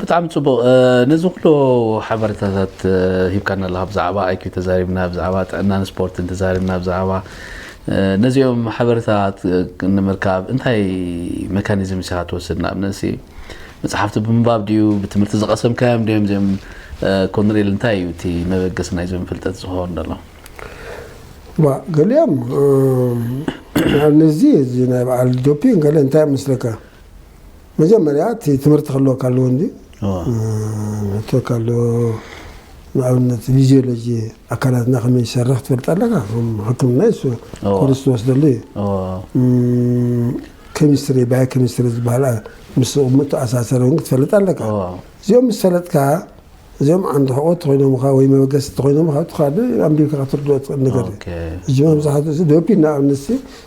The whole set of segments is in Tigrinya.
ብጣዕሚ ፅቡቅ ነዚ ኩሉ ሓበሬታታት ሂብካና ኣለካ ብዛዕባ ኣይኪው ተዛሪብና ብዛዕባ ጥዕናን ስፖርትን ተዛሪብና ብዛዕባ ነዚኦም ሓበሬታታት ንምርካብ እንታይ መካኒዝም ኢኻ ትወስድ? ንኣብነትሲ መጽሓፍቲ ብምንባብ ድዩ? ብትምህርቲ ዝቐሰምካዮም ድዮም? እዚኦም ኮንሬል እንታይ እዩ እቲ መበገሲ ናይዞም ፍልጠት ዝኸውን ዘሎ? ዋ ገሊኦም ንኣብነትዚ እዚ ናይ በዓል ዶፒንግ ገለ እንታይ እዮም መስለካ መጀመርያ እቲ ትምህርቲ ክህልወካ ኣለዎ እንጂ ንህተካ ኣሎ ንኣብነት ፊዚዮሎጂ ኣካላትና ከመይ ዝሰርሕ ትፈልጥ ኣለካ ሕክምና ይሱ ኮርስ ትወስደሉ እዩ ኬሚስትሪ ባዮ ኬሚስትሪ ዝበሃል ምስ ቁሙት ተኣሳሰረ እውን ክትፈልጥ ኣለካ እዚኦም ምስ ፈለጥካ እዚኦም ዓንዲ ሕቆ ተኮይኖምካ ወይ መበገሲ ተኮይኖምካ ትካዲ ኣንቢብካ ክትርድኦ ትክእል ነገር እዩ እዚ መብዛሕትኡ ዶፒ ንኣብነት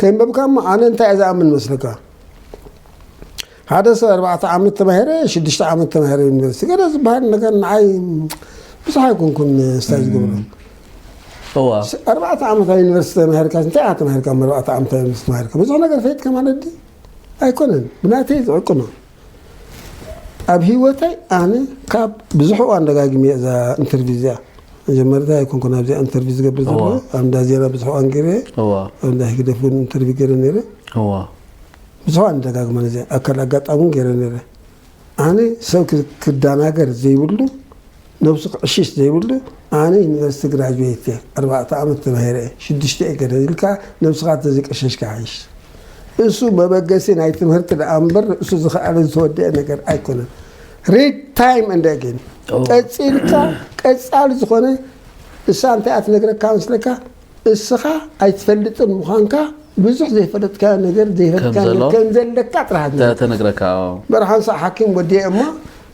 ከይንበብካ እሞ ኣነ እንታይ እየ ዝኣምን መስለካ ሓደ ሰብ ኣርባዕተ ዓመት ተማሂረ ሽዱሽተ ዓመት ተማሂረ ዩኒቨርሲቲ ገለ ዝበሃል ነገር ንዓይ ብዙሕ ኣይኮንኩን ስታይ ዝገብሮ እዋ ኣርባዕተ ዓመት ኣብ ዩኒቨርሲቲ ተማሂርካ እንታይ ኢኻ ተማሂርካ ኣርባዕተ ዓመት ኣብ ዩኒቨርሲቲ ተማሂርካ ብዙሕ ነገር ፈይጥካ ማለት ድዩ ኣይኮነን ብናተይ ዝዕቅኖ ኣብ ሂወተይ ኣነ ካብ ብዙሕ እዋን ደጋጊመ እዛ ኢንተርቪው እዚኣ መጀመርታ ኣይኮንኩን ኣብዚኣ ኢንተርቪው ዝገብር ዘሎ ኣብ እንዳ ዜና ብዙሕ እዋን ገይረ ኣብ እንዳ ህግደፍ እውን ኢንተርቪው ገይረ ነይረ ብዙሕ እዋን ደጋግመ ነዚ ኣካል ኣጋጣሚ እውን ገይረ ነይረ ኣነ ሰብ ክደናገር ዘይብሉ ነብሱ ክዕሽሽ ዘይብሉ ኣነ ዩኒቨርስቲ ግራጁዌት እየ ኣርባዕተ ዓመት ተማሂረ እየ ሽዱሽተ እየ ገደል ኢልካ ነብስኻ ተዘይቀሸሽካ ይሓይሽ እሱ መበገሲ ናይ ትምህርቲ ደኣ እምበር ርእሱ ዝኸኣለ ዝተወደአ ነገር ኣይኮነን ሪድ ታይም እንደ ግን ቀፂልካ ቀፃሊ ዝኾነ እሳ እንታይ እያ ትነግረካ መስለካ እስኻ ኣይትፈልጥን ምዃንካ ብዙሕ ዘይፈለጥካዮ ነገር ዘይፈለጥካዮ ከም ነገር ዘሎ ከም ዘለካ ጥራሕ እታ ትነግረካ ተነግረካ ኣዎ በርሓን ሳዕ ሓኪም ወዲየ እሞ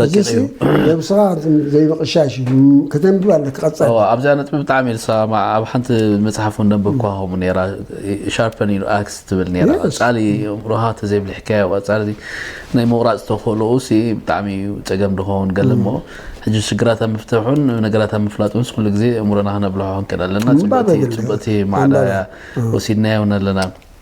ረቂቕ እዩ ነብስኻ ዘይምቕሻሽ እዩ ከተንብብ ኣለካ ቀፃሊ ኣብዚኣ ነጥቢ ብጣዕሚ እየ ዝሰማማዕ ኣብ ሓንቲ መፅሓፍ እውን ነንበብኳ ከምኡ ነራ ሻርፐን ዩ ኣክስ ትብል ነራ Yes. ቀፃሊ እምሮኻ ተዘይብሊሕካዮ ቀፃሊ እዚ ናይ ምቑራፅ ተኽእሎኡ ሲ ብጣዕሚ እዩ ፀገም ድኸውን ገለ እሞ ሕጂ ሽግራት ኣብ ምፍትሑን ነገራት ኣብ ምፍላጡን ስ ኩሉ ግዜ እምሮና ክነብልሖ ክንክእል ኣለና ምንባብ ጽብቕቲ- የድሊ። ጽብቕቲ ማዕዳ እያ ወሲድናዮ እውን ኣለና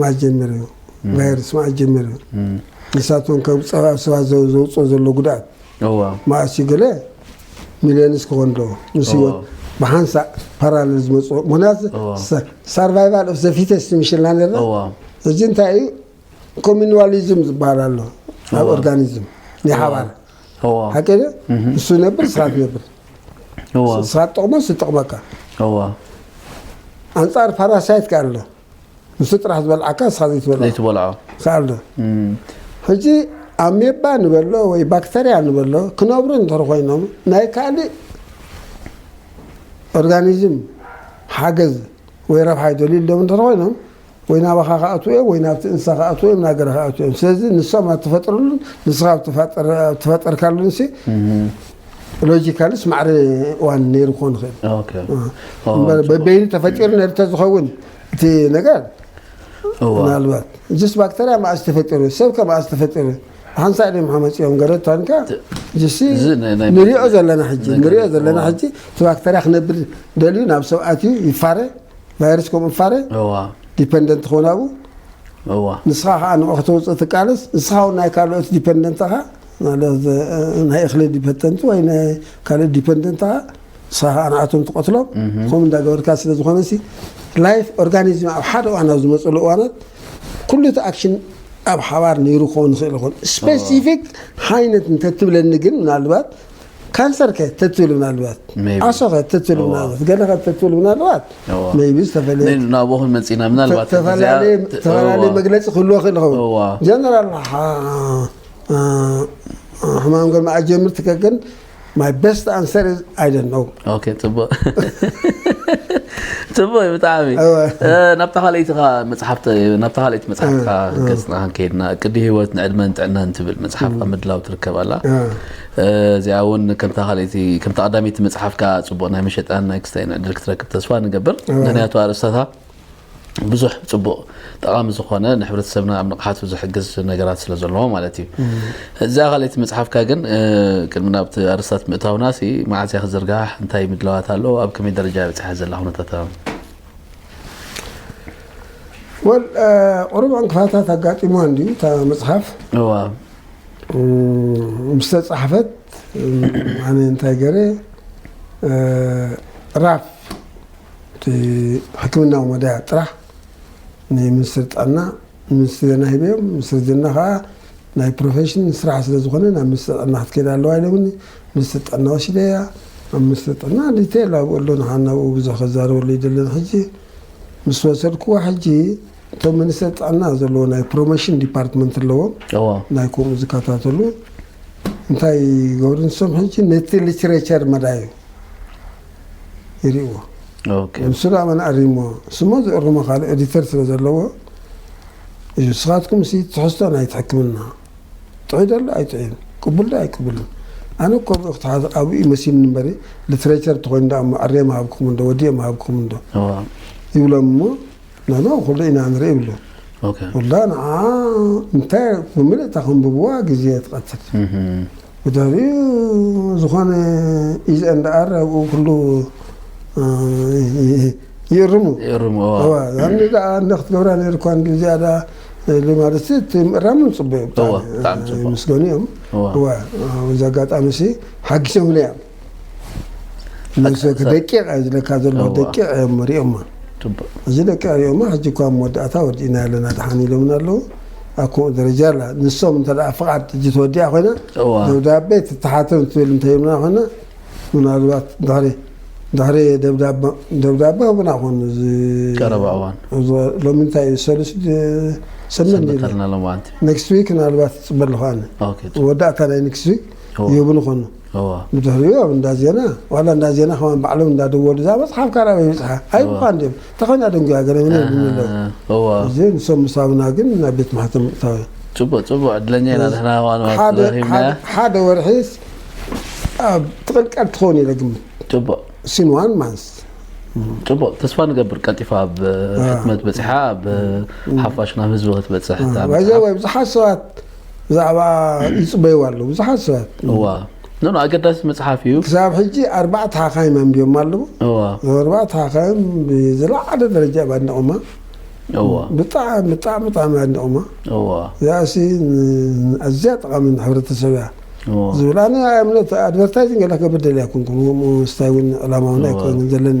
መዓስ ጀሚሩ እዩ ቫይረስ መዓስ ጀሚሩ እዩ ንሳቶም ከም ፀባብ ሰባት ዘውፅኦ ዘሎ ጉድኣት መዓስ እዩ ገለ ሚሊዮንስ ክኾን ዶ ምስ ህይወት ብሓንሳእ ፓራለል ዝመፅኦ ምክንያቱ ሳርቫይቫል ኦፍ ዘፊተስ ምሽልና ነርና እዚ እንታይ እዩ ኮሚኒዋሊዝም ዝበሃል ኣሎ ኣብ ኦርጋኒዝም ናይ ሓባር ሓቂ ንሱ ነብር ስኻ ትነብር እወ ስኻ ትጠቕሞስ ዝጠቕመካ እወ ኣንጻር ፓራሳይት ከ ኣሎ ንሱ ጥራሕ ዝበልዓካ ንስኻ ዘይትበልዖ ዘይትበልዖ ከ ኣሎ ሕጂ ኣሜባ ንበሎ ወይ ባክተርያ ንበሎ ክነብሩ እንተ ኮይኖም ናይ ካልእ ኦርጋኒዝም ሓገዝ ወይ ረብሓ ይደልዩ ኣለዉ እንተ ኮይኖም ወይ ናባኻ ክኣትዉ እዮም ወይ ናብቲ እንስሳ ክኣትዉ እዮም ናገረ ክኣትዉ እዮም ስለዚ ንሶም ኣብ ትፈጥርሉን ንስኻ ኣብ ትፈጠርካሉን ሲ ሎጂካልስ ማዕረ እዋን ነይሩ ክኾን ይኽእል በበይኑ ተፈጢሩ ነይሩ እንተዝኸውን እቲ ነገር ምናልባት ጅስ ባክተርያ መዓስ ተፈጢሩ ሰብ ከ መዓስ ተፈጢሩ ሓንሳእ ድም ሓመፂኦም ገለ ታንካ ጅሲ ንሪኦ ዘለና ሕጂ ንሪኦ ዘለና ሕጂ እቲ ባክተርያ ክነብር ደልዩ ናብ ሰብ ኣትዩ ይፋረ ቫይረስ ከምኡ ፋረ ዲፐንደንት ክኾን ኣብኡ ንስኻ ከዓ ንዑ ከተውፅእ ትቃለስ ንስኻ እውን ናይ ካልኦት ዲፐንደንትኻ ማለት ናይ እኽሊ ዲፐንደንት ወይ ናይ ካልኦት ዲፐንደንትኻ ንስኻ ከዓ ንኣቶም ትቐትሎም ከምኡ እንዳገበርካ ስለ ዝኾነ ሲ ላይፍ ኦርጋኒዝም ኣብ ሓደ እዋን ኣብ ዝመፅሉ እዋናት ኩሉ እቲ ኣክሽን ኣብ ሓባር ነይሩ ክኸውን ይኽእል ይኹን ስፔሲፊክ ሓይነት እንተትብለኒ ግን ምናልባት ካንሰር ከ ተትብል ምናልባት ዓሶ ከ ተትብል ምናልባት ገለ ከ ተትብል ምናልባት መይቢ ዝተፈለየ ናብኡ ክንመፅና ምናልባት ተፈላለየ መግለፂ ክህልዎ ክእል ይኸውን ጀነራል ሕማም ገርማ ኣጀምር ትከክን ማይ ቤስት ኣንሰር ኣይደን ነው ፅቡቅ ፅቡቅ ብጣዕሚ ናብታ ካልኣይትኻ መፅሓፍ ናብታ ካልኣይቲ መፅሓፍካ ገፅና ከይድና ቅዲ ህይወት ንዕድመን ጥዕናን ትብል መፅሓፍካ ምድላው ትርከብ ኣላ እዚኣ እውን ከምታ ካልኣይቲ ከምታ ቀዳመይቲ መጽሓፍካ ጽቡቕ ናይ መሸጣን ናይ ክስታይን ዕድል ክትረክብ ተስፋ ንገብር ምክንያቱ ኣርእስታታ ብዙሕ ጽቡቕ ጠቓሚ ዝኾነ ንሕብረተሰብና ኣብ ንቕሓቱ ዝሕግዝ ነገራት ስለ ዘለዎ ማለት እዩ እዛ ካልኣይቲ መጽሓፍካ ግን እ፣ ቅድሚ ናብቲ ኣርስታት ምእታውና ሲ መዓዝ እያ ክዝርጋሕ እንታይ ምድላዋት ኣሎ ኣብ ከመይ ደረጃ እያ በፂሓ ዘላ ኩነታት ኣሎ? ወል ቁሩብ ዕንቅፋታት ኣጋጢሞ እንድዩ እታ መጽሓፍ እዋ ምስተፃሕፈት ኣነ እንታይ ገረ ራፍ እቲ ሕክምናዊ መዳያ ጥራሕ ንሚኒስትሪ ጥዕና ንሚኒስትሪ ዜና ሂበዮም ሚኒስትሪ ዜና ከዓ ናይ ፕሮፌሽን ስራሕ ስለ ዝኾነ ናብ ሚኒስትሪ ጥዕና ክትከይድ ኣለዋ ኢሎምኒ ሚኒስትሪ ጥዕና ወሲደያ ኣብ ሚኒስትሪ ጥዕና ዲቴል ኣብኡ ኣሎ ንሓናብኡ ብዙሕ ከዛረበሉ ይደለን ሕጂ ምስ ወሰድክዋ ሕጂ እቶም ሚኒስተር ጥዕና ዘለዎ ናይ ፕሮሞሽን ዲፓርትመንት ኣለዎም እዎ ናይ ከምኡ ዝከታተሉ እንታይ ይገብሩ ንሶም ሕጂ ነቲ ሊትሬቸር መዳዩ ይርእዎ ኦኬ ንሱ ዳኣ መን ኣሪሞ ስሞ ዝእርሞ ካልእ ኤዲተር ስለ ዘለዎ እዩ ንስኻትኩም ሲ ትሕዝቶ ናይቲ ሕክምና ጥዑይ ደሎ ኣይጥዑይን ቅቡል ዶ ኣይቅቡልን ኣነ እኮ ብኡ ክትሓዝ ኣብኡ እዩ መሲልኒ እምበሪ ሊትሬቸር ተኮይኑ ዳኣ እሞ ኣርየ ምሃብክኹም እንዶ ወዲየ ምሃብክኹም እንዶ እዎ ይብሎም እሞ ንሕና ኩሉ ኢና ንርኢ ይብሉ ኩላ ንዓኣ እንታይ ብምልእታ ከንብብዋ ግዜ ትቐትል ብድሕሪኡ ዝኾነ ኢዘን ደኣር ኣብኡ ኩሉ ይእርሙ ይእርሙ ያኒ ደኣ እንደ ክትገብራ ነይሩ እኳ እንዲ ዝያዳ ማለት እቲ ምእራም ንፅበዩ ምስገኑ እዮም እዛ ኣጋጣሚ ሲ ሓጊሶምና እዮም ንሰቲ ደቂቕ እዩ ዝለካ ዘለዎ ደቂቕ እዮም ሪኦማ እዚ ደቂቕ ሪኦማ ሕጂ እኳ መወዳእታ ወዲእና ኣለና ድሓን ኢሎምና ኣለዉ ኣብ ከምኡ ደረጃ ኣላ ንሶም እንተ ፍቓድ ሕጂ ተወዲኣ ኮይና ደብዳቤ ትተሓተም ትብል እንተይምና ኮይና ምናልባት ድሕሪ ድሕሪ ደብዳቤ ህቡና ኮን ቀረባ እዋን ሎሚ እንታይ እዩ ሰሉስ ሰመን ኔክስት ዊክ ምናልባት ፅበ ኣለኹ ኣነ ወዳእታ ናይ ኔክስት ዊክ ይህቡኒ ኮኑ እወ። ብድሕሪኡ ኣብ እንዳ ዜና ዋላ እንዳ ዜና ከማን ባዕሎም እንዳ ደወሉ እዛ መጽሓፍ ካብ ኣበይ በጽሓ ኣይብሉኻ እንድዮም እንታይ ኮይና ደንጉያ ገለ መለ ይብሉኒ ኣለዉ። እወ። እዚ ንሶም ምስ ሃቡና ግን ናብ ቤት ማሕተም ምእታው እዩ። ጽቡቅ ጽቡቅ ዕድለኛ ኢና ንሕና ከማን መዓልቲ ሓደ ረኺብናያ። ሓደ ሓደ ወርሒስ ኣብ ትቕልቀል ትኸውን ኢለ ግምት ጽቡቅ ሲን ዋን ማንስ ጽቡቅ ተስፋ ንገብር ቀልጢፋ ኣብ ሕትመት በጺሓ ኣብ ሓፋሽ ናብ ህዝቢ ክትበጽሕ እታ መጽሓፍ። ባይዘወይ ብዙሓት ሰባት ብዛዕባ ይፅበይዎ ኣለዉ ብዙሓት ሰባት እዋ ኖ ኖ ኣገዳሲ መፅሓፍ እዩ ክሳብ ሕጂ ኣርባዕተ ሓካይም ኣንቢቦማ ኣለዉ እዋ እዞም ኣርባዕተ ሓካይም ብዝለዓለ ደረጃ እዮም ኣድኒቖማ እዋ ብጣዕሚ ብጣዕሚ ብጣዕሚ እዮም ኣድኒቖማ እዋ እዚኣሲ ን- ኣዝያ ጠቓሚ ንሕብረተሰብ እያ እዋ ዝብል ኣነ እምነት ኣድቨርታይዚንግ ገለ ክገብር ደልየ ኣይኮንኩን ከምኡ ምስታይ እውን ዕላማ እውን ኣይኮንን ዘለኒ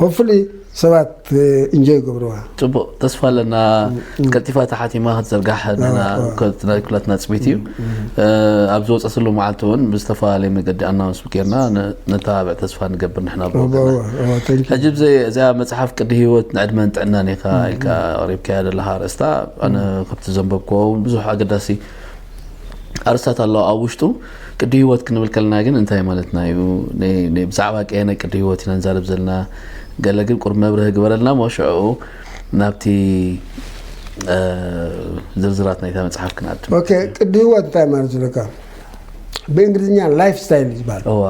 ሆፕፉሊ ሰባት እንጆይ ይገብርዋ። ፅቡቅ ተስፋ ኣለና ቀልጢፋ ተሓቲማ ክትዝርጋሕ ንሕና ኣዎ። ከ- ናይ ኩላትና ፅቢት እዩ ኣብ ዝወፀትሉ መዓልቲ እውን ብዝተፈላለየ መገዲ ኣናውንስ ጌርና ን- ነተባብዕ ተስፋ ንገብር ንሕና ብወገና ተንኪ ሕጂ ብዘ- እዚኣ መፅሓፍ ቅዲ ሂወት ንዕድመን ጥዕናን ኢኻ ኢልካ ኣቕሪብካያ ዘለኻ ኣርእስታ ኣነ ከምቲ ዘንበብክዎ እውን ብዙሕ ኣገዳሲ ኣርስታት ኣለዋ ኣብ ውሽጡ ቅዲ ህይወት ክንብል ከለና ግን እንታይ ማለትና እዩ? ብዛዕባ ቀየናይ ቅዲ ህይወት ኢና ንዛረብ ዘለና? ገለ ግን ቁሩብ መብርሂ ግበረልና እሞ ሽዕኡ ናብቲ ዝርዝራት ናይታ መጽሓፍ ክንኣቱ። ኦኬ፣ ቅዲ ህይወት እንታይ ማለት ዝለካ ብእንግሊዝኛ ላይፍ ስታይል ዝበሃል እዋ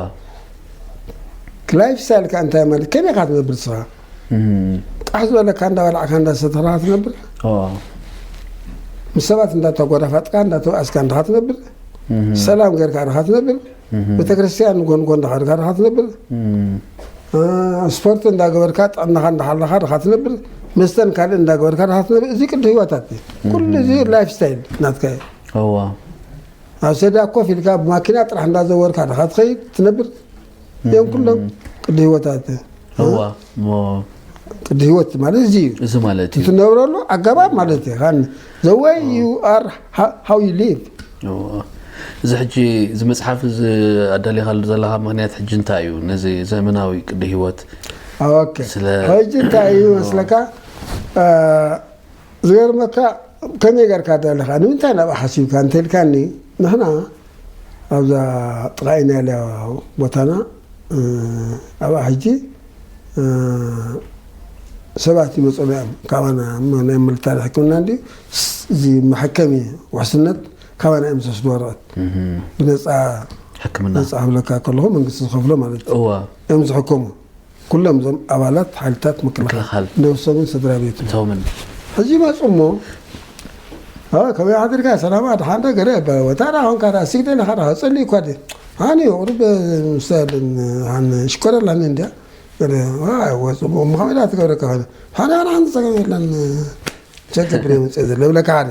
ላይፍ ስታይል ከ እንታይ ማለት ከመይ ኢኻ ትነብር ንስኻ? ቃሕ ዝበለካ እንዳበላዕካ እንዳሰተኻ ትነብር ምስ ሰባት እንዳተጎዳፋጥካ እንዳተባእስካ እንድኻ ትነብር ሰላም ገርካ ድኻ ትነብር ቤተክርስትያን ንጎን ጎን ድኻ ድኻ ትነብር ስፖርት እንዳገበርካ ጥዕናኻ እንዳሓለኻ ድኻ ትነብር መስተን ካልእ እንዳገበርካ ድኻ ትነብር እዚ ቅዲ ህይወታት ኩሉ እዚ ላይፍ ስታይል ናትካ እዩ ኣብ ሰዳ ኮፍ ኢልካ ብማኪና ጥራሕ እንዳዘወርካ ድኻ ትኸይድ ትነብር እዮም ኩሎም ቅዲ ህይወታት እዋ እሞ ቅዲ ህይወት ማለት እዚ እዩ እዚ ማለት እዩ እትነብረሉ ኣገባብ ማለት እዩ ኻን ዘወይ ዩ ኣር ሃው ዩ ሊቭ እዎ። እዚ ሕጂ እዚ መፅሓፍ እዚ ኣዳሊኻሉ ዘለኻ ምክንያት ሕጂ እንታይ እዩ ነዚ ዘመናዊ ቅዲ ህይወት ኦኬ ስለ- ሕጂ እንታይ እዩ መስለካ አ፣ ዝገርመካ ከመይ ጌርካ ደለኻ ንምንታይ ናብኣ ሓሲብካ እንተልካኒ ንሕና ኣብዛ ጥቃ ኢናልያ ቦታና ኣብኣ ሕጂ ሰባት ይመጽኡና እዮም ካባና ናይ ምልታሪ ሕክምና እንዲ እዚ መሐከሚ ውሕስነት ካባና እዮም ዝወስዱ ወረቀት ብነፃ ሕክምና ነፃ ክብለካ ከለኹ መንግስቲ ዝኸፍሎ ማለት እዮም ዝሕከሙ ኩሎም እዞም ኣባላት ሓይልታት ምክልኻል ነብሶምን ስድራ ቤቶምን ሕጂ ይመጹ እሞ ከመይ ሓዲርካ ሰላም ኣድሓን ዶ ገለ ይባል ወታ ዳ ኮንካ ዳ ሲግደ ለኻ ዳ ጸልይ እኳ ዲ ሃኒ ቁሩብ ምሳልን ሃን ሽኮረል ሃኒ እንዲያ ገለ ወ ጽቡቕ እሞ ከመይ ዳ ትገብረካ ኮይነ ሃኒ ኣነ ሓንቲ ጸገም የለን ቸገብር የምጽእ ዘሎ ይብለካ ሓደ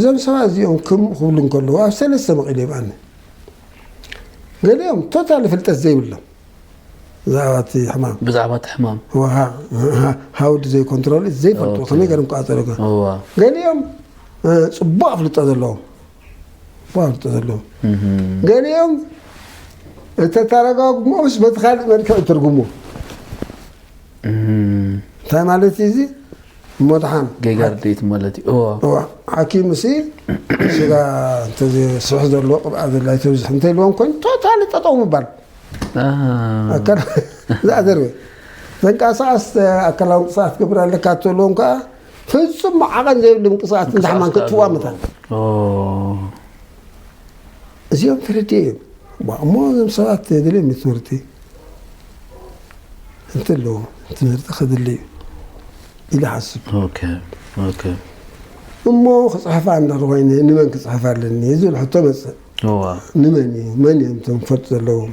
እዞም ሰባት እዚኦም ክም ክብሉ እንከለዉ ኣብ ሰለስተ መቒሉ ይብኣኒ ገሊኦም ቶታሊ ፍልጠት ዘይብሎም ብዛዕባ እቲ ሕማም ብዛዕባ እቲ ሕማም ሃውዲ ዘይኮንትሮል ዘይፈልጡ ከመይ ገርም ክቃፀሉ ገሊኦም ፅቡቅ ኣፍልጦ ዘለዎም ቋርጡ ዘለዉ ገሊኦም እተተረጋግሞስ በቲ ካልእ መልክዕ ትርጉሙ እንታይ ማለት እዩ እዚ መድሓን ገጋርዴት ማለት እዩ እዋ ሓኪም ሲ ስጋ እንተዘይስሕ ዘሎ ቅብኣ ዘላ ይተብዝሕ እንተይልዎም ኮይኑ ቶታሊ ጠጠው ምባል ኣካል ዝኣዘርበ ተንቀሳቐስ ኣካላዊ ምንቅስቓስ ትገብር ኣለካ እተልዎም ከዓ ፍጹም ዓቐን ዘይብሉ ምንቅስቓስ ንዛሕማን ክትዋ ምታን እዚኦም ተረድኦ እዮም እሞ እዞም ሰባት ተደልዮም እዩ ትምህርቲ እንተለዎ ትምህርቲ ክድሊ እዩ ኢለ ሓስብ እሞ ክፅሕፋ እንዳኮይነ ንመን ክፅሕፍ ኣለኒ ዝብል ሕቶ መፅእ ንመን እዩ መን እዮም እቶም ክፈልጡ ዘለዎም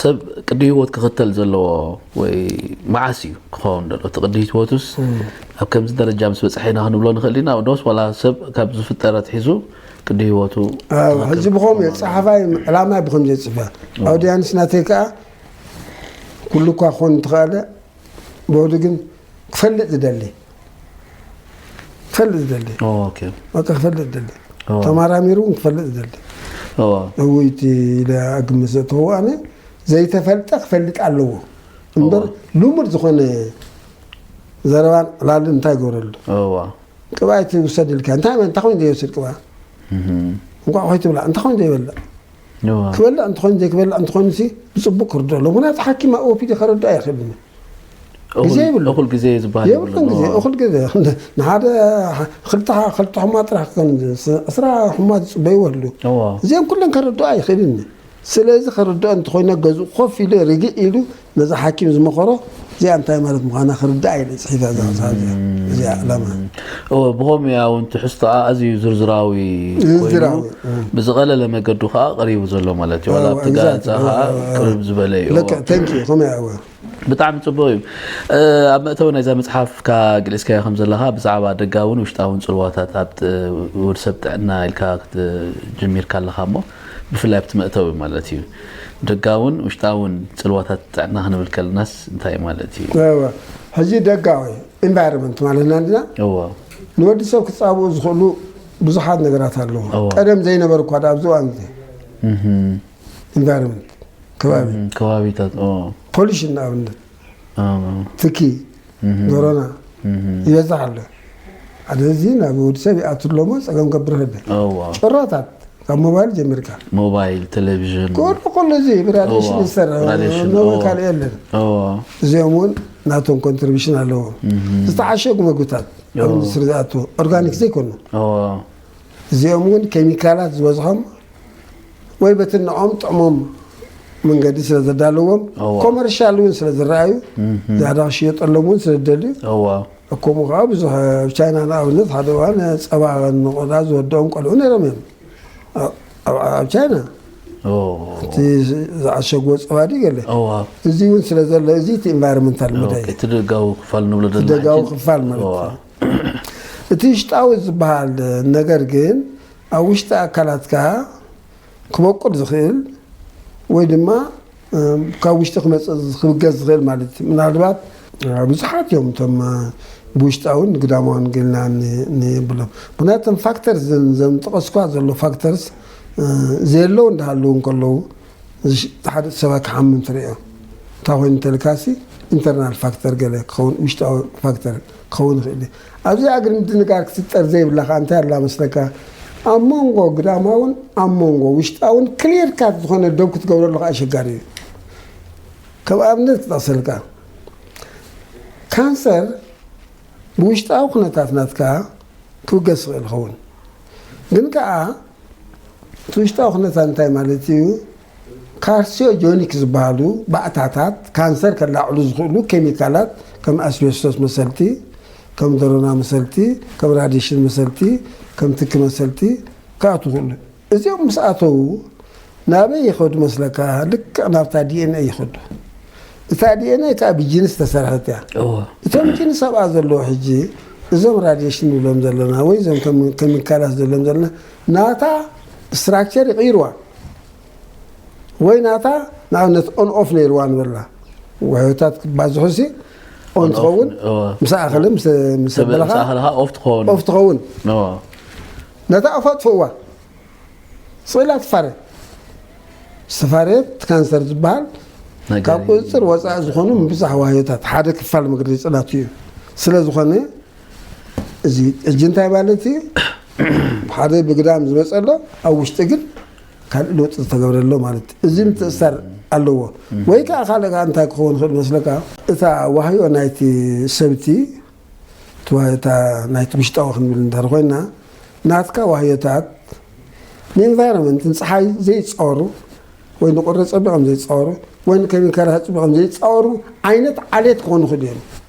ሰብ ቅዲ ህይወት ክኽተል ዘለዎ ወይ መዓስ እዩ ክኸውን ደሎ እቲ ቅዲ ህይወቱስ ኣብ ከምዚ ደረጃ ምስ በፅሐ ኢና ክንብሎ ንኽእል ኢና ዶስ ዋላ ሰብ ካብ ዝፍጠር ኣትሒዙ ቅዲ ህይወቱ ኣብ ትኽክል ሕዚ ብኸም እየ ፀሓፋይ ዕላማይ ብኸምዚ እየ ፅሕፋ ኣውዲያንስ ናተይ ከዓ ኩሉ እኳ ክኾን እንትኸኣለ ዶዲ ግን ክፈልጥ ዝደሊ ክፈልጥ ዝደሊ በቃ ክፈልጥ ዝደሊ ተመራሚሩ እውን ክፈልጥ ዝደሊ እውይቲ ኢለ ኣግምት ዘእተዎ ኣነ ዘይተፈልጠ ክፈልጥ ኣለዎ እምበር ልሙድ ዝኾነ ዘረባን ዕላልን እንታይ ይገብረሉ ቅብኣ ይትውሰድ ኢልካ እንታይ እንታይ ኮይኑ ዘይወስድ ቅብኣ እንኳዕ ኮይ ትብላ እንታይ ኮይኑ ዘይበልዕ ክበልዕ እንተኾይኑ ዘይክበልዕ እንተኾይኑሲ ብጽቡቅ ክርድኦ ኣለዎ ምክንያቱ ሓኪም ኣብ ኦፒዲ ከረድኣ ኣይክእልን ግዜ ይብሉ እኹል ግዜ ዝበሃል የብሉን ግዜ የብሉን። እኹል ግዜ ንሓደ ክልተ ክልተ ሕሙማት ጥራሕ ከም ዕስራ ሕሙማት ዝጽበይዎ ኣለዉ እዎ። እዚኦም ኩለን ከረድኦ ኣይክእልን እዩ ስለዚ ከረድኦ እንተኾይኑ ገዝኡ ኮፍ ኢሉ ርግእ ኢሉ ነዛ ሓኪም ዝመኸሮ እዚኣ እንታይ ማለት ምዃና ክርዳኣ ኢለ ፅሒፈ እዛ መፅሓፍ እዚኣ እዚኣ ዕላማ እወ ብኸምኡ እያ እውን ትሕዝቶኣ ኣዝዩ ዝርዝራዊ ኮይኑ ዝርዝራዊ፣ እ። ብዝቐለለ መገዱ ከዓ ቀሪቡ ዘሎ ማለት እዩ ዋላ ኣብቲ ጋዜጣ ከዓ ቅርብ ዝበለ እዩ እወ። ልክዕ ተንኪ ከምኡ እያ እወ ብጣዕሚ ፅቡቅ እዩ እ፣ ኣብ መእተዊ ናይዛ መፅሓፍካ ገሊፅካዮ ከም ዘለካ ብዛዕባ ደጋውን ውሽጣውን ፅልዋታት ኣብ ጥ- ወድሰብ ጥዕና ኢልካ ክት- ጀሚርካ ኣለካ እሞ ብፍላይ ኣብቲ መእተዊ ማለት እዩ። ደጋውን ውሽጣውን ጽልዋታት ጥዕና ክንብል ከለናስ እንታይ ማለት እዩ? እወ፣ ሕጂ ደጋዊ፣ Environment፣ ማለት ኢና እንድና። እወ። ንወዲ ሰብ ክጻብኡ ዝኽእሉ ብዙሓት ነገራት ኣለዉ። እወ። ቀደም ዘይነበሩ እኳ ደኣ ኣብዚ እዋን እዚ። Environment፣ ከባቢ። ከባቢታት፣ እወ። Pollution ንኣብነት። ትኪ ዶሮና ይበዝሕ ኣሎ ሓደ እዚ ናብ ወዲ ሰብ ይኣቱ ኣለሞ ፀገም ገብር ህደ ጭራታት ካብ ሞባይል ጀሚርካ ሞባይል ቴሌቪዥን ኩሉ ኩሉ እዚ ብራዲሽን እዎ፣ ይሰርሕ ብራዲሽን፣ ኖበል እዎ። ካልእ የለን እዎ፣ እዚኦም እውን ናቶም ኮንትሪቢሽን ኣለዎ ዝተዓሸጉ መግብታት ኣብ ኢንዱስትሪ ዝኣትዎ ኦርጋኒክ ዘይኮኑ እዎ፣ እዚኦም እውን ኬሚካላት ዝበዝሖም ወይ በቲ ንኦም ጥዕሞም መንገዲ ስለ ዘዳለዎም እዋ። ኮመርሻል እውን ስለ ዝረኣዩ ዝያዳ ክሽየጠሎም እውን ስለ ዝደልዩ እዋ ከምኡ ከዓ ብዙሕ ኣብ ቻይና ንኣብነት ሓደ እዋን ፀባ ንቆልዓ ዝወድኦም ቆልዑ ነይሮም እዮም ኣብ- ኣብ ኣብ ቻይና ኦ፣ እቲ ዝዓሸግዎ ፀባ ድዩ ገለ እዋ እዚ እውን ስለ ዘሎ እዚ እቲ ኢንቫይሮንመንታል መዳይ ኦኬ፣ እቲ ደጋዊ ክፋል ንብሎ ዘለና ደጋዊ ሕጂ። ክፋል ማለት እዋ። እዩ እቲ ውሽጣዊ ዝበሃል ነገር ግን ኣብ ውሽጢ ኣካላትካ ክበቁል ዝኽእል ወይ ድማ ካብ ውሽጢ ክመፅእ ክብገስ ዝኽእል ማለት እዩ። ምናልባት ብዙሓት እዮም እቶም ብውሽጣውን ግዳማውን ገልና ንብሎም ግና እቶም ፋክተርስ ዘም ዘምጠቐስኳ ዘሎ ፋክተርስ ዘየለው እንዳሃለዉ እንከለዉ ሓደ ሰባ ክሓምም ትርእዮ እንታይ ኮይኑ እንተልካሲ ኢንተርናል ፋክተር ገለ ክኸውን ውሽጣዊ ፋክተር ክኸውን ይኽእል እዩ። ኣብዚ ኣግሪ ምድንጋር ክትጠር ዘይብላ ከኣ እንታይ ኣላ መስለካ ኣብ ሞንጎ ግዳማውን ኣብ ሞንጎ ውሽጣውን ክሊር ካት ዝኾነ ዶብ ክትገብረሉ ከኣ ኣሸጋሪ እዩ ከም ኣብነት ክጠቕሰልካ ካንሰር ብውሽጣዊ ኩነታት ናትካ ክብገስ ይኽእል ይኸውን ግን ከኣ እቲ ውሽጣዊ ኩነታት እንታይ ማለት እዩ ካርሲዮጆኒክ ዝበሃሉ ባእታታት ካንሰር ከላዕሉ ዝኽእሉ ኬሚካላት ከም ኣስቤስቶስ መሰልቲ፣ ከም ደሮና መሰልቲ፣ ከም ራዲሽን መሰልቲ፣ ከም ትኪ መሰልቲ ክኣትዉ ይኽእሉ። እዚኦም ምስ ኣተዉ ናበይ ይኸዱ መስለካ? ልክዕ ናብታ ዲኤንኤ ይኸዱ። እታ ዲኤንኤ ከኣ ብጂንስ ዝተሰርሐት እያ። እቶም ጂንስ ኣብኣ ዘለዉ ሕጂ እዞም ራዲሽን ንብሎም ዘለና ወይ እዞም ከም ኬሚካላት ንብሎም ዘለና ናታ ስትራክቸር ይቕይርዋ ወይ ናታ ንኣብነት ኦን ኦፍ ነይርዋ ንበላ ውሕታት ክባዝሑ ሲ ኦን ትኸውን ምስ ኣኸለ ምስ በለኻ ኦፍ ትኸውን ነታ ኦፍ ኣጥፍእዋ ስኢላ ትፋረ ዝተፋረየት ካንሰር ዝበሃል ካብ ቁፅፅር ወፃኢ ዝኾኑ ምብዛሕ ዋህዮታት ሓደ ክፋል መግረዲ ፅላት እዩ ስለ ዝኾነ እዚ ሕጂ እንታይ ማለት እዩ? ሓደ ብግዳም ዝመፀ ኣሎ፣ ኣብ ውሽጢ ግን ካልእ ለውጢ ዝተገብረ ኣሎ ማለት እዩ። እዚ ምትእስሳር ኣለዎ። ወይ ከዓ ካልእ ከዓ እንታይ ክኸውን ይኽእል መስለካ? እታ ዋህዮ ናይቲ ሰብቲ እቲ ዋህዮታ ናይቲ ውሽጣዊ ክንብል እንድሕር ኮይና ናትካ ዋህዮታት ንኢንቫይሮንመንት ንፀሓይ ዘይፃወሩ ወይ ንቁሪ ፀቢቖም ዘይፃወሩ ወይ ንኬሚካላት ፅቢቖም ዘይፃወሩ ዓይነት ዓሌት ክኾኑ ይኽእሉ እዮም።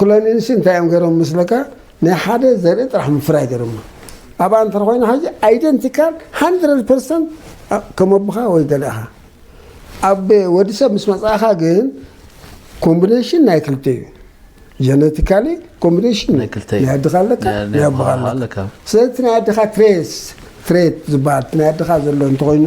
ክሎኒንግሲ እንታይ እዮም ገሮም ምስለካ ናይ ሓደ ዘርኢ ጥራሕ ምፍራይ ገሮም ኣብ ኣንተር ኮይኑ ሓጂ ኣይደንቲካል 100 ፐርሰንት ከም ኣቦኻ ወይ ገለኻ ኣብ ወዲ ሰብ ምስ መፅእኻ ግን ኮምቢኔሽን ናይ ክልተ እዩ ጀነቲካሊ ኮምቢኔሽን ናይ ክልተ እዩ ናይ ኣድኻ ኣለካ ናይ ኣቦኻ ኣለካ ስለዚ ናይ ኣድኻ ትሬስ ትሬት ዝበሃል ናይ ኣድኻ ዘሎ እንተኮይኑ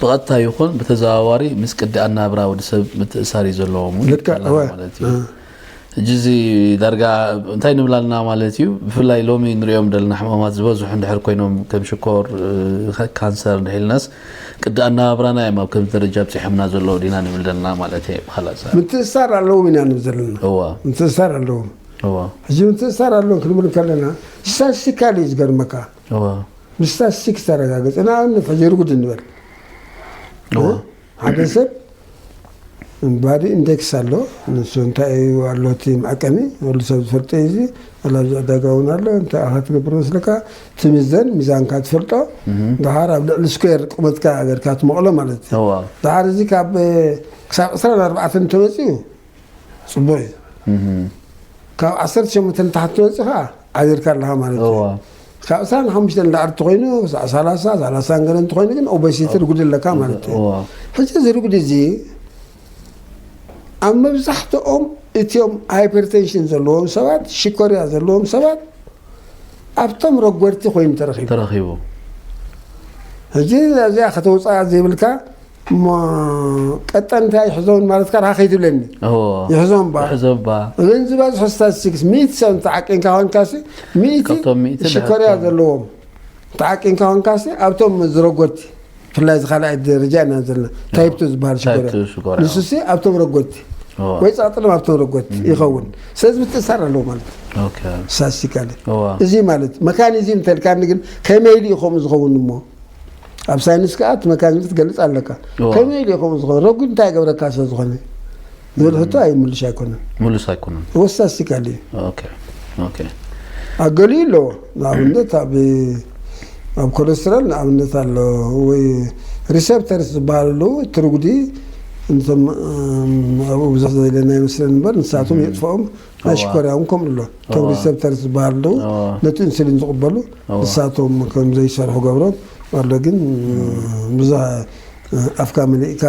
ብቐጥታ ይኹን ብተዘዋዋሪ ምስ ቅዲ ኣናብራ ወዲ ሰብ ምትእሳር እዩ ዘለዎም ውን ልክዕ፣ ይብለና እወ። ማለት እዩ። እ። ሕጂ እዚ ዳርጋ እንታይ ንብል ኣለና ማለት እዩ ብፍላይ ሎሚ ንሪኦም ዘለና ሕማማት ዝበዝሑ እንድሕር ኮይኖም ከም ሽኮር እ፣ ካንሰር እንድሕር ኢልናስ ቅዲ ኣነባብራና እዮም ኣብ ከምዚ ደረጃ ኣብጺሖምና ዘለዉ ዲና ንብል ዘለና ማለት እየ ብካልእ ኣዘራርባ። ምትእስሳር ኣለዎም ኢና ንብል ዘለና። እወ ምትእስሳር ኣለዎም። እወ ሕጂ ምትእስሳር ኣለዎም ክንብል ከለና ስታትስቲካሊ እዩ ዝገርመካ። ብስታትስቲክስ ተረጋገፀ ንኣብነት ሕጂ ርጉድ እንበል ሓደ ሰብ ባዲ ኢንደክስ ኣሎ ንሱ እንታይ እዩ ኣሎ እቲ መዐቀኒ ወሉ ሰብ ዝፈልጦ እዩ እዚ ኣላብዚ ዕዳጋ እውን ኣሎ እንታይ ኢኻ ትነብር መስለካ ትምዘን ሚዛንካ ትፈልጦ ድሓር ኣብ ልዕሊ ስኩዌር ቁመትካ ገርካ ትመቕሎ ማለት እዩ ድሓር እዚ ካብ ክሳብ ዕስራን ኣርባዕተን እንተመፅኡ ፅቡቅ እዩ ካብ ዓሰርተ ሸሞንተ ንታሕቲ ትወፅእ ከዓ ዓዚርካ ኣለካ ማለት እዩ እዋ ካብ ዕስራን ሓሙሽተን እንዳዓር ተኮይኑ ክሳዕ ሰላሳ ሰላሳን ገለ እንተኮይኑ ግን ኦበሲቲ ርጉድ ኣለካ ማለት እዩ እዋ ሕጂ እዚ ርጉድ እዚ ኣብ መብዛሕትኦም እትዮም ሃይፐርቴንሽን ዘለዎም ሰባት ሽኮርያ ዘለዎም ሰባት ኣብቶም ረጎድቲ ኮይኑ ተረኪቡ ተረኪቡ ሕጂ እዚኣ ከተውፅኣ ዘይብልካ እሞ ቀጠን እንታይ ይሕዞን ማለትካ ድካ ከይትብለኒ ይሕዞን ባ እዘን ዝበዝሑ ስታቲስቲክስ ሚእቲ ሰብ ተዓቂንካ ኮንካሲ ሚእቲ ሽኮርያ ዘለዎም ተዓቂንካ ኮንካሲ ኣብቶም ዝረጎድቲ ብፍላይ እዚ ካልኣይ ደረጃ ኢና ዘለና ታይፕቱ ዝበሃል ሽኮርያ ንሱሲ ኣብቶም ረጎድቲ ወይ ጸቕጥሎም ኣብቶም ረጎድቲ ይኸውን ስለዚ ምትእሳር ኣለዎ ማለት እዩ ስታቲስቲካሊ እዚ ማለት መካኒዝም እንተልካኒ ግን ከመይ ድዩ ከምኡ ዝኸውን እሞ ኣብ ሳይንስ ከዓ እቲ መካኒዝም ትገልፅ ኣለካ እዎ። ከመይ ኢሉ ይኸውን ዝኾነ ረጒድ እንታይ ይገብረካ ስለ ዝኾነ ዝብል ሕቶ ኣይ ምልሽ ኣይኮነን ምሉስ ኣይኮነን እዎ ስታስቲካል እዩ ኦኬ ኦኬ ኣብ ገሊኡ ኣለዎ ንኣብነት ኣብ ኣብ ኮለስትሮል ንኣብነት ኣሎ ወይ ሪሴፕተርስ ዝበሃልሉ እቲ ርጉዲ እንቶም ኣብኡ ብዙሕ ዘየለና ይመስለኒ እምበር ንሳቶም የጥፍኦም ኣሽኮርያ እውን ከምኡ ኣሎ እቶም ሪሰፕተርስ ዝበሃሉ ደው ነቲ ኢንሱሊን ዝቕበሉ ንሳቶም ከም ዘይሰርሑ ገብሮም ኣሎ ግን ብዙ ኣፍካ መሊእካ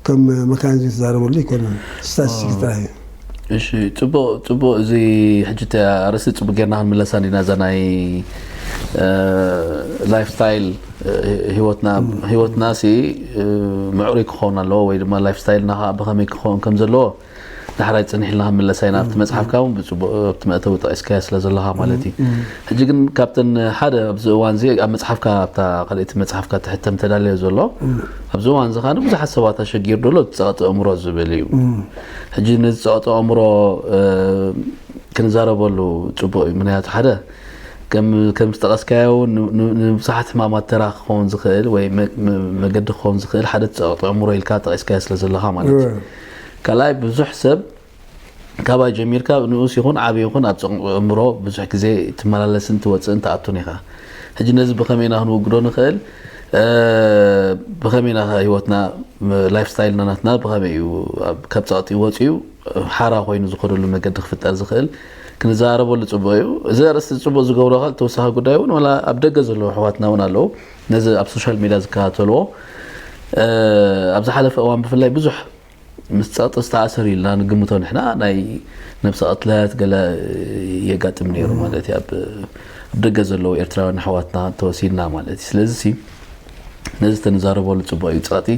ከም መካኒዝም ዝተዛረበሉ ኣይኮነን ስታቲስቲክ ጥራይ እዩ እሺ ጽቡቅ ጽቡቅ እዚ ሕጂ እቲ ኣርእስቲ ጽቡቅ ጌርና ክንምለሳ እንዲና እዛ ናይ ላይፍ ስታይል ህይወትና ህይወትና ሲ ምዕሩይ ክኸውን ኣለዎ ወይ ድማ ላይፍ ስታይልና ከዓ ብኸመይ ክኸውን ከም ዘለዎ ዳሕራይ ጽኒሕ ኢልና ክንምለሳ ኢና። ኣብቲ መጽሓፍካ እውን ብጽቡቕ ኣብቲ መእተዊ ጠቒስካዮ ስለ ዘለኻ ማለት እዩ። ሕጂ ግን ካብተን ሓደ ኣብዚ እዋን እዚ ኣብ መጽሓፍካ ኣብታ ካልኣይቲ መጽሓፍካ ትሕተም ተዳልዮ ዘሎ ኣብዚ እዋን እዚ ከኣ ንብዙሓት ሰባት ኣሸጊሩ ዘሎ እቲ ጸቕጢ ኣእምሮ ዝብል እዩ። ሕጂ ነዚ ጸቕጢ ኣእምሮ እ፣ ክንዛረበሉ ጽቡቕ እዩ። ምክንያቱ ሓደ ከም ከም ዝጠቐስካዮ እውን ን- ን- ንብዙሓት ሕማማት ተራ ክኸውን ዝኽእል ወይ መ- መ- መገዲ ክኸውን ዝኽእል ሓደ እቲ ጸቕጢ ኣእምሮ ኢልካ ጠቒስካዮ ስለ ዘለኻ ማለት እዩ። ካልኣይ ብዙሕ ሰብ ካባይ ጀሚርካ ንኡስ ይኹን ዓብይ ይኹን ኣብ ጽቕንቑ ኣእምሮ ብዙሕ ግዜ ትመላለስን ትወጽእን ትኣቱን ኢኻ። ሕጂ ነዚ ብኸመይ ኢና ክንውግዶ ንኽእል? ብኸመይ ኢና ህይወትና ላይፍ ስታይልና ናትና ብኸመይ እዩ ካብ ጸቕጢ ወጺኡ ሓራ ኮይኑ ዝኸደሉ መገዲ ክፍጠር ዝኽእል ክንዘራረበሉ ጽቡቕ እዩ። እዚ ኣርእስቲ ጽቡቕ ዝገብሮ ካል ተወሳኺ ጉዳይ እውን ዋላ ኣብ ደገ ዘለዉ ኣሕዋትና እውን ኣለዉ። ነዚ ኣብ ሶሻል ሜድያ ዝከታተልዎ ኣብ ዝሓለፈ እዋን ብፍላይ ብዙሕ ምስ ፀቕጢ ዝተኣሰር ኢልና ንግምቶ ንሕና ናይ ነብሰ ቅትለት ገለ የጋጥም ነይሩ ማለት እዩ ኣብ ደገ ዘለዉ ኤርትራውያን ኣሕዋትና ተወሲድና ማለት እዩ ስለዚ ነዚ ተንዛረበሉ ፅቡቅ እዩ ፀቕጢ